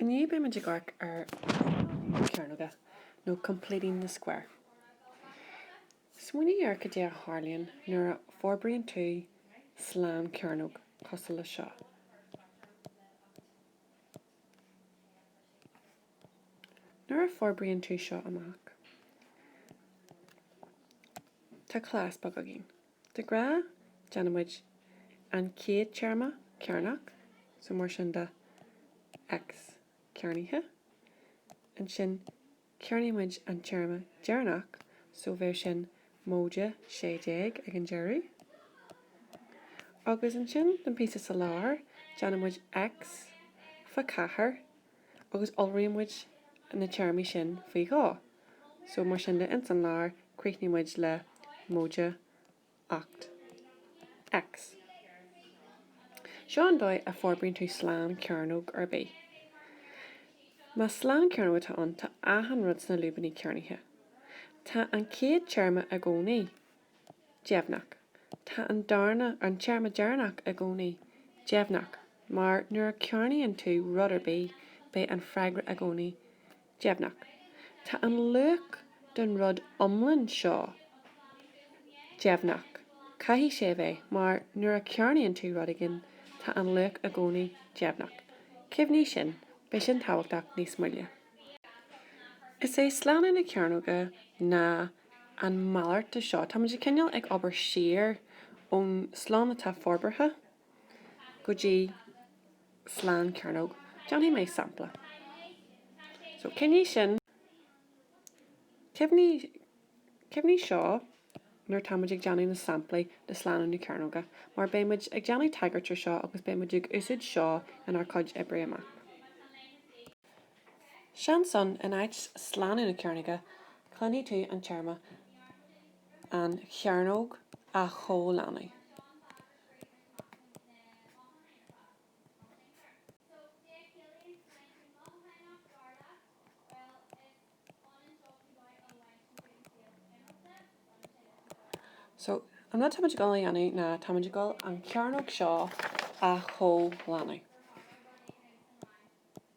Inniu beidh muid ag amharc ar shlánú na cearnóige nó completing the square. Smaoinigh ar cad é a tharlaíonn nuair a forbraíonn tú slánchearnóg cosúil leis seo. Nuair a forbraíonn tú seo amach, tá cleas beag againn. De ghnáth, déanaimid an chéad téarma cearnach, so mar sin de, X cearnaithe. Ansin cearnaímid an téarma deireanach, so bheadh sin móide sé déag ag an deireadh. Agus ansin, don phíosa sa lár, déanaimid X faoi cheathair, agus iolraímid na téarmaí sin faoi dhó so mar sin de ins an lár críochnaímid le móide ocht X. Seo an dóigh a forbraíonn tú slánchearnóg ar bith. Más slánchearnóg atá ann tá achan rud sna lúibíní cearnaithe. Tá an chéad téarma i gcónaí. deimhneach. Tá an darna, an téarma deireanach, i gcónaí deimhneach, mar nuair a cearnaíonn tú rud ar bith, beidh an freagra i gcónaí deimhneach. Tá an luach don rud iomlán seo deimhneach, caithfidh sé a bheith, mar nuair a cearnaíonn tú rud éigin, tá an luach i gcónaí deimhneach. Cuimhnigh sin, beidh sin tábhachtach níos moille. Is é slánú na cearnóige ná. an mhalairt de seo. Táimid ag cineál ag obair siar ón slonn atá forbartha go dtí slánchearnóg. Déanfaidh mé sampla. So, cuimhnigh sin, cuimhnigh seo nuair táimid ag déanamh na samplaí de slánú na cearnóga, mar beimid ag déanamh tagairt ar seo agus beimid ag úsaid seo inár cuid oibre amach. Seans ann, in áit slánú na cearnóige, cluinfidh tú an téarma 'an chearnóg' a chomhlánú. So, an rud táimid ag dul a dhéanamh ná táimid ag dul an chearnóg seo a chomhlánú.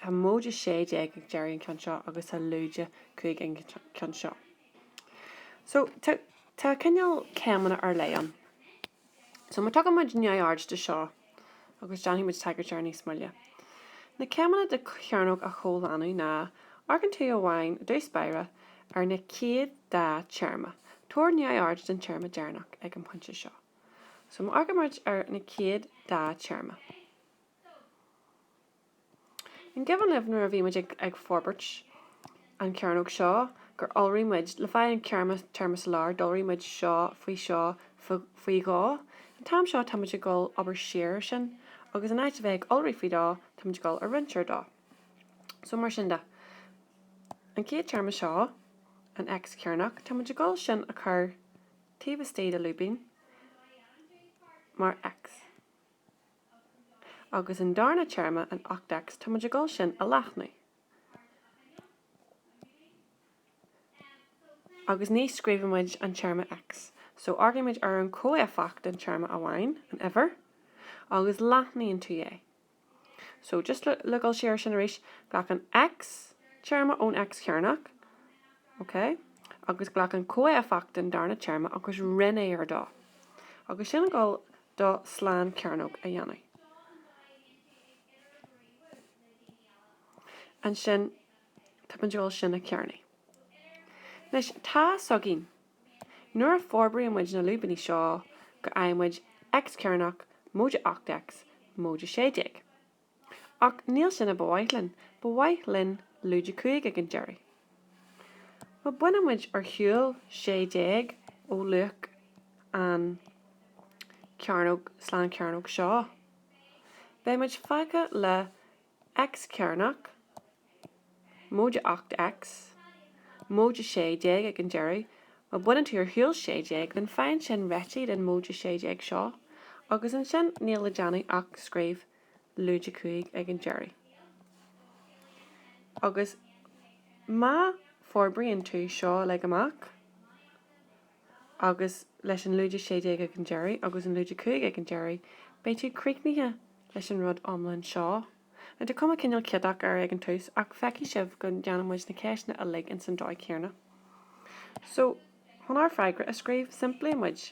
Tá móide sé déag ag deireadh an cheann seo agus tá lúide cúig ag an cheann seo. So tá cineál céimeanna ar leith ann. So má tugann muid neamhaird de seo agus déanfaidh muid tagairt air níos moille. Na céimeanna de chearnóg a chomhlánú ná, amharcann tú amháin, i dtús báire, ar na chéad dá téarma. Tabhair neamhaird den téarma deireanach ag an bpointe seo. So má amharcann muid ar na chéad dá téarma. An cuimhin libh nuair a bhí muid ag forbairt an chearnóg seo gur iolraigh muid, le fáil an téarma sa lár, d'iolraigh muid seo faoi seo faoi dhó. An t-am seo táimid ag dul ag obair siar ar sin agus in áit a bheith ag iolrú faoi dhó, táimid ag dul a roinnt ar dó. So mar sin de, an chéad téarma seo, an X cearnóg, táimid ag dul sin a chur taobh istigh de lúibín mar X. agus an darna téarma an ocht X, táimid ag dul sin a leathnú, agus ní scríobhaimid an téarma X, so amharcaimid ar an chomhéifeacht den téarma amháin, an uimhir, agus leathnaíonn tú é. So, just le, le dhul siar ar sin arís, glac an X téarma ón X chearnach, ok, agus glac an comhéifeacht den darna téarma agus roinn é ar dó, agus tá sin ag dul do shlán cearnóg a dhéanamh. Ansin tá muid ag dul sin a chearnú. Anois tá a fhios againn, nuair a forbraíonn muid na lúibíní seo, go fhaigheann muid X-cearnach móide 8X móide sé déag. Ach níl sin a ba mhaith linn. Ba mhaith linn lúide 5 ag an deireadh. Má bainimid ar shiúl 6 déag ó luach an chearnóg slán chearnóg seo, beimid fágtha le X cearnach, Móide ocht X, Móide 16 ag an deireadh, má baineann tú ar shiúl 16 then faigheann sin réitigh den Móide 16 seo, agus ansin níl le déanamh ach scríobh Lúide 5 ag an deireadh. Agus má forbraíonn tú seo uilig amach, agus leis an Lúide 16 ag an deireadh agus an Lúide 5 ag an deireadh, beidh tú críochnaithe leis an rud iomlán seo. Now tá cuma cineál ciotach air ag an tús ach feicfidh sibh go ndéanann muid na ceisteanna uilig ins an dóigh chéanna. So, chun ár bhfreagra a scríobh, simpleoidh muid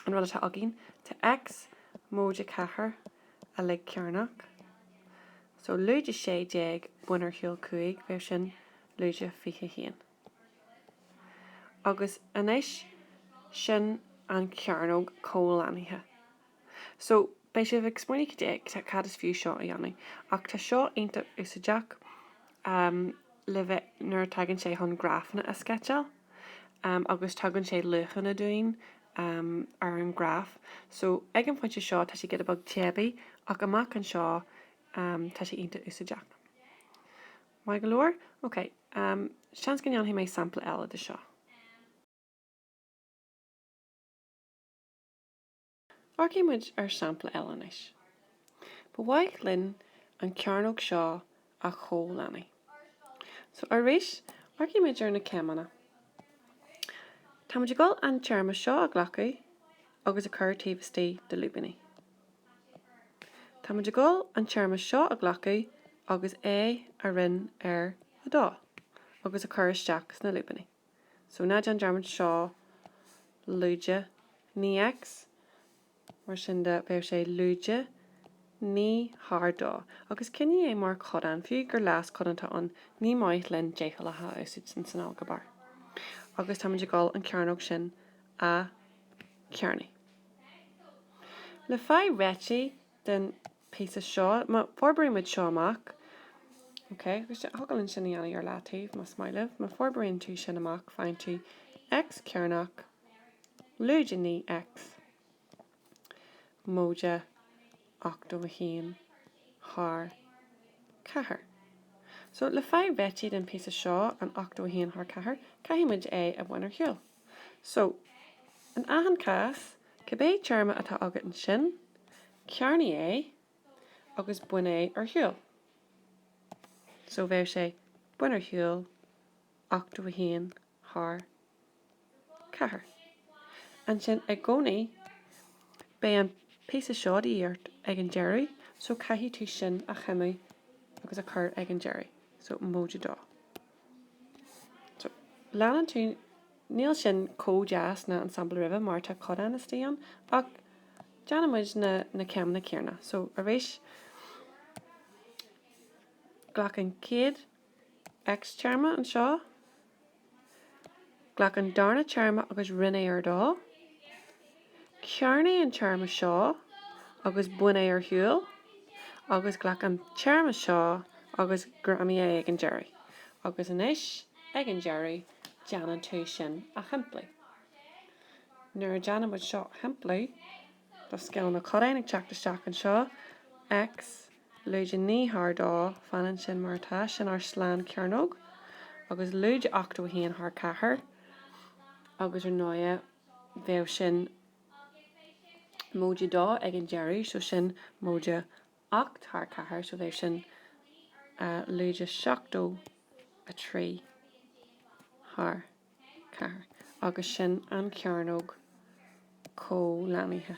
an rud atá againn, tá X móide a ceathair uilig cearnach, so lúide sé déag bain ar shiúl cúig beidh sin lúide fiche haon. Agus anois, sin an chearnóg comhlánaithe. So, beidh sibh ag smaoineamh cad é, cad is fiú seo a dhéanamh. Ach tá seo iontach úsáideach le bheith, nuair a tagann sé chun grafanna a sceitseáil agus tugann sé luachanna dúinn ar an ngraf. So, ag an phointe seo tá sé giota beag teibí ach amach anseo tá sé iontach úsáideach. Maith go leor? Ok, seans go ndéanfaidh mé sampla eile de seo. Amharcfaidh muid ar shampla eile anois. Ba mhaith linn an chearnóg seo a chomhlánadh. So, arís, amharcfaidh muid ar na céimeanna. Tá muid ag dul an téarma seo a ghlacadh agus a chur taobh istigh de lúibíní. Tá muid ag dul an téarma seo a ghlacadh agus é a roinn ar 2 agus a chur isteach sna lúibíní. So ná déan dearmad seo lúide naoi X Mar sin de bheadh sé lúide naoi thar dó agus coinnigh é mar chodán, fiú gur leaschodán atá ann, ní maith linn deachúlacha a úsáid insan ailgéabar. Agus táimid ag dul an chearnóg sin a chearnú. Le fáil réitithe den píosa seo. Má forbraíonn muid seo amach, OK, agus thig linn sin a dhéanamh ar leataobh, más maith libh. Má forbraíonn tú sin amach, faigheann tú X cearnach lúide 9 X móide 81 thar 4. So, le fáil réitithe den píosa seo, an 81 thar 4, caithfidh muid é a bhaint ar shiúl. So, in achan cás, cibé téarma atá agat ansin, Cearnaigh é agus bain é ar shiúl. So bheadh sé bain ar shiúl ochtó a haon thar ceathair. Ansin i gcónaí beidh an píosa seo de dhíth ort ag an deireadh so caithfidh tú sin a choinneáil agus a chur ag an deireadh. So móide dó. So le dtuigeann tú. Níl sin chomh deas ná an sampla roimhe mar tá codán istigh ann, ach déanann muid na céimeanna céarna. So, arís, glac an chéad x-téarma anseo, glac an darna téarma agus roinn é ar dó, cearnaigh an téarma seo agus bain é ar shiúl, agus glac an téarma seo agus greamaigh é ag an deireadh. Agus anois, ag an deireadh. déanann tú sin a shimpliú. Nuair a déanann muid seo a shimpliú, tá scil na gcodán ag teacht isteach anseo, X, lúide 9 thar 2, fanann sin mar atá, sin ár slánchearnóg, agus lúide 81 thar 4, agus ar ndóigh, bheadh sin móide 2 ag an deireadh, so sin móide Ocht thar ceathair, so bheadh sin lúide 73 thar ceathair, agus sin an chearnóg comhlánaithe.